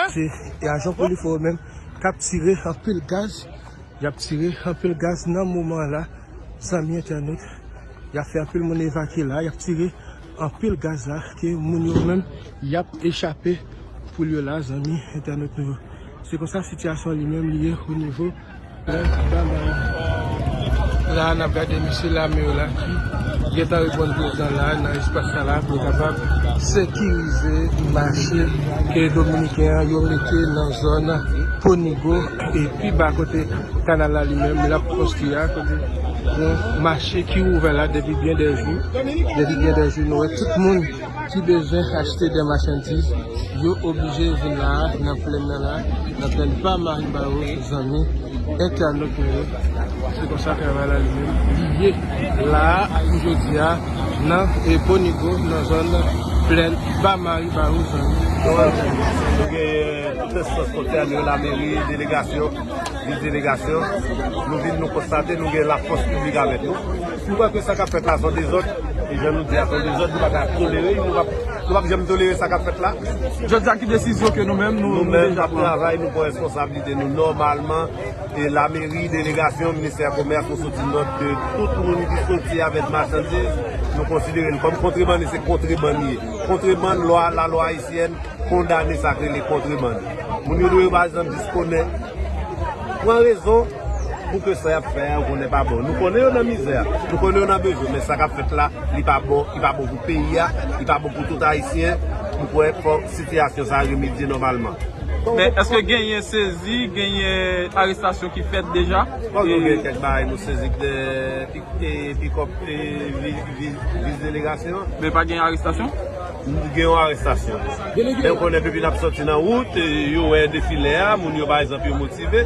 Se ajan polifò yo menm k ap tire anpil gaz, y ap tire anpil gaz nan moman an la zanmi entènot. Y ap fè anpil moun evakye la, y ap tire anpil gaz la ke moun yo menm y ap echape poul yo la zanmi entènot nou yo. Se konsa sitiyasyon an li menm li ye o nivo. La nap gade mesye lame yo la ki gentan reponn prezidan la nan espas sa la pou yo kapab sekirize mache ke dominiken an yo mete nan zòn ponigo e pi ba kote kanal la li menm lap konstwi a kote yon mache ki ouvè la depi byen de jou depi byen de jou nou wè tout moun ki bezwen achte dè machandiz yo oblije vin la a nan plenn nan la a nan plenn pa Marie Barros zanmi entènot nou yo se konsa travay la li menm li ye la a pou jodi a nan Bonigo nan zòn plenn pa Marie Barros zanmi entènot. Nou genyen tout enstans kontèn yo lameri delegasyon vis delegasyon nou vin nou konstate nou gen lafòs piblik avèk nou. Nou kwè ke sa kap fèt la son dezòd, e jan nou di a son dezòd nou pa ka tolere li, nou pap janm tolere sa kap fèt la. Jodi a ki desizyon ke nou menm nou deja pran? Nou menm nap travay, nou pran responsablite nou nòmalman, e lameri, delegasyon, ministè komès nou soti nòt ke tout moun ki soti avèk machandiz nou konsidere l kòm kontrebann e se kontrebann li ye. Kontrebann lwa, la lwa ayisyèn kondane sa k rele kontrebann. Moun yo dwe pa janm jis konnen, pran rezon. Pou ke sa yap fè a yo konnen pa bon. Nou konnen yo nan mizè, nou konnen yo nan bezwen, men sa kap fèt la, li pa bon, li pa bon pou peyi a, li pa bon pou tout ayisyen, m kwè fò sitiyasyon sa remedye nòmalman. Men, eske genyen sezi, genyen arestasyon ki fèt deja? Bon, nou gen kèk bagay nou sezi k de pikòp e vis delegasyon. Men pa gen arestasyon? Gen yon arestasyon. Lè yo konnen depi nap sòti nan wout, yo wè defilè a, moun yo pa egzanp yo motive.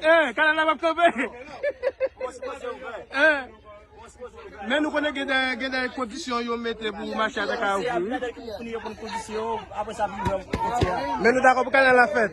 Eh, kanal la pap kanpe. Eh, men nou konnen gen de, gen de kondisyon yo mete pou mache a ta ka ouvri. wi. Men nou dakò pou kanal la fèt.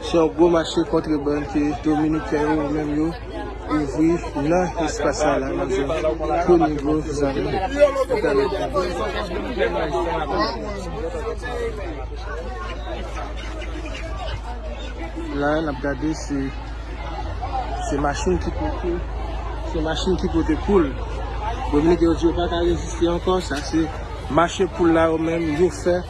Se yon gwo mache kontrebann ke dominiken yo yo menm yo ouvri nan espas sa la nan zòn Conigo zanmi nou pèmèt nou gade la nap gade se se machin ki pote se machin ki pote poul dominiken yo di yo paka reziste ankò sa se mache poul la yo menm yo fè.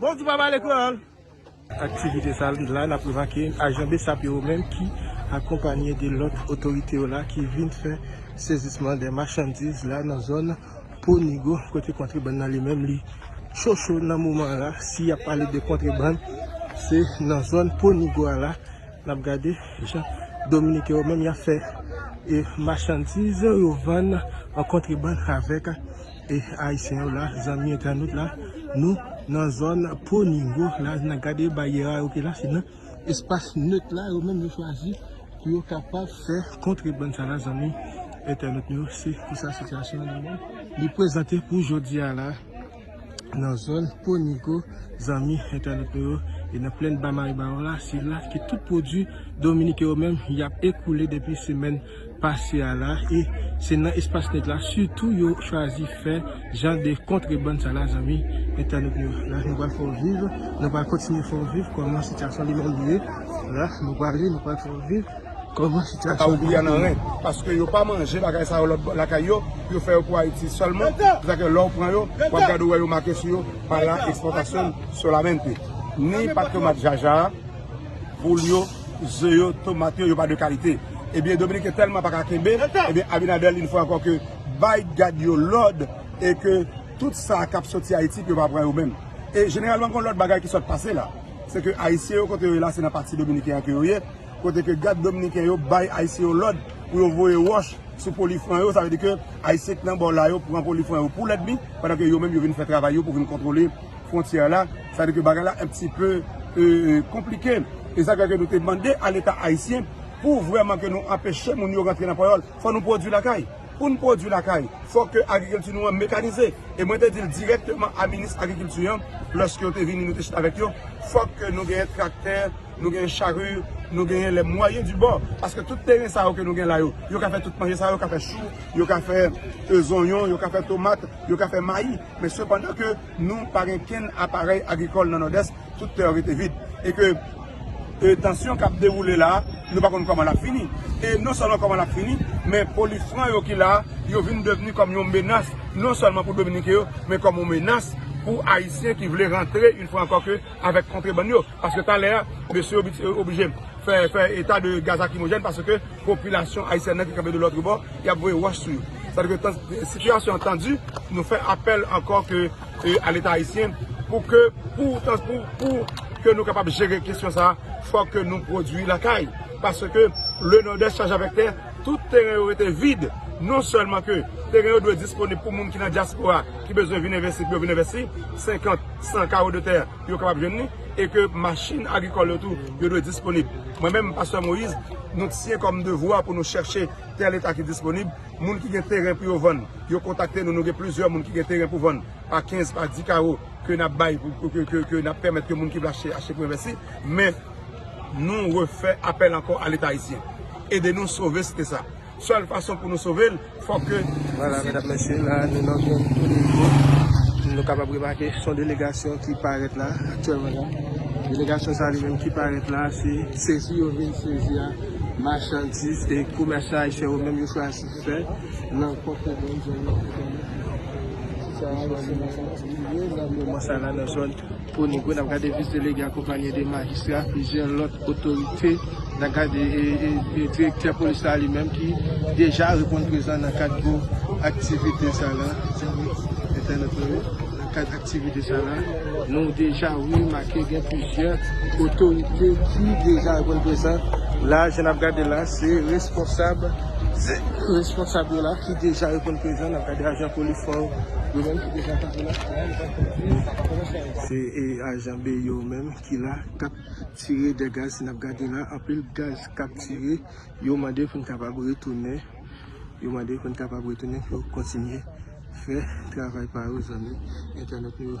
Bonjou pa pale kreyòl. Aktivite sa la nap remake ajan bsap yo menm ki akonpanye de lòt otorite yo la ki vin fè sezisman de machandiz la nan zòn po nigo kote kontrebann nan li menm li cho cho nan moman la si yap pale de kontrebann se nan zòn po nigo a la nap gade jan dominiken yo menm yap fè e machandiz yo vann an kontrebann avèk. E ayisyen yo la zanmi entènot la nou nan zòn poningo la nan gade baryè a yo ki la se nan espas neut la yo menm yo chwazi pou yo kapab fè kontrebann sa la zanmi entènot nou se konsa sitiyasyon an genlè li prezante pou jodi a la nan zòn poningo zanmi entènot nou yo e nan plenn ba maribawo la se la ki tout pwodwi dominiken yo menm yap ekoule depi semèn. pase a la e se nan espas nèt la sitou yo chwazi fè jan de kontrebann sa la zanmi entènot nou la nou pral fè w viv nou pral kontinye fè w viv kòman sitiyasyon li menm ye la nou prale nou pral fè w viv kòman sitiyasyon li menm ye. Sa yo pran nan ren paske yo pa manje bagay sa yo lòt bò lakay yo yo fè yo pou Ayiti sèlman se sa ke lè w pran yo w ap gade ou wè yo make sou yo pa la ekspòtasyon solamente ni patrema djaja a pou l yo. Ze yo, tomat yo, yo pa de kalite. Ebyen Dominiken tèlman pa ka kenbe, ebyen Abinader li fwa ankò ke bay gad yo lòd e ke tout sa kap soti Ayiti ke yo pa pran yo menm. E jeneralman gon lòt bagay ki sòt pase la. Se ke Ayisyen yo kote yo ye la se nan pati Dominiken an ke yo ye, kote ke gad Dominiken yo bay Ayisyen yo lòd pou yo voye wòch sou polifwen yo, sa vle di ke Ayisyen ki nan bò la yo pran polifwen yo pou lèdmi, pandan ke yo menm yo vin fè travay yo pou vin kontwole. frontyè la, sa vle di ke bagay la un pti peu konplike. E sa fè ke nou te mande a leta ayisyen pou vrèman ke nou anpeche moun yo rantre nan Panyòl. Fò nou pwodui lakay. Pou nou pwodui lakay, fò ke agrikilti nou an mekanize. E mwen te di l dirèkteman a minis agrikilti an, lòske yo te vini nou te chita avèk yo, fòk ke nou genyen traktè, nou genyen chari, nou genyen les moyens du bord. Paske tout teren sa yo ke nou gen la yo, yo ka fè tout manje sa yo, yo ka fè chou, yo ka fè zonyon, yo ka fè tomat, yo ka fè mayi. Men sepandan ke nou pa gen kenn aparèy agrikòl nan Nòdès, tout tè yo rete vid. E ke tansyon k ap dewoule la a, nou pa konn kòman l ap fini. E non sèlman kòman l ap fini, men polifran yo ki la a, yo vin devni kòm yon menas, non sèlman pou Dominiken yo, men kòm yon menas pou Ayisyen ki vle rantre yon fwa ankò ke avèk kontrebann yo. Paske talè a, mesye yo oblije fè eta de gaz lakrimojèn paske. popilasyon ayisyèn nan ki kanpe de lòtre bò, y ap voye wòch sou yo. Sa vle di ke sitiyasyon an tandu, nou fè apèl ankò ke a leta ayisyen pou ke pou ke nou kapab jere kesyon sa a, fò ke nou pwodui lakay. Paske le Nòdès chaje avèk tè, tout teren yo rete vid. Non sèlman ke teren yo dwe disponib pou moun ki nan dyaspora ki bezwen vin envesti pou yo vin envesti, 50, 100 kawo de tè. yo kapab jwenn li e ke machin agrikòl yo tou yo dwe disponib. Mwen menm, Pastè Moïse, nou t siyen kòm devwa pou nou chèche tè leta ki disponib, moun ki gen teren pou yo vann, yo kontakte nou, nou gen plizyè moun ki gen teren pou vann pa 15, pa 10 kawo ke n ap bay pou ke n ap pèmèt ke moun ki vle achte, achte pou envesti, men nou refè apèl ankò a leta ayisyen. Ede nou sove site sa. Sèl fason pou nou sove l, fò ke. Vwala medam mesye, la nou nan zon Codeco, nou kapab remake son delegasyon ki parèt la aktyèlman la. Delegasyon sa li menm ki parèt la, se sezi yo vin sezi a machandiz ke komèsan ayisyen yo menm yo chwazi fè nan pwòp zòn yo. Ti sa a se machandiz yo nan moman sa la nan zòn. Kwonik yo n ap gade vis delege akonpanye de majistra plizyè lòt otorite n ap gade direktè polis la li menm ki deja reponn prezan nan kad gwo aktivite sa la entènot nou yo nan kad aktivite sa la nou deja remake gen plizyè otorite ki deja reponn prezan la jan n ap gade la se responsab responsab yo la ki deja reponn prezan n ap gade ajan polis fò yo menm ki deja kanpe la. Se ajan be yo menm ki la kap tire de gaz si nap gade la anpil gaz kap tire yo mande pou n kapab retounen yo mande pou n kapab retounen pou yo kontinye fè travay pa yo zanmi entènèt nou yo.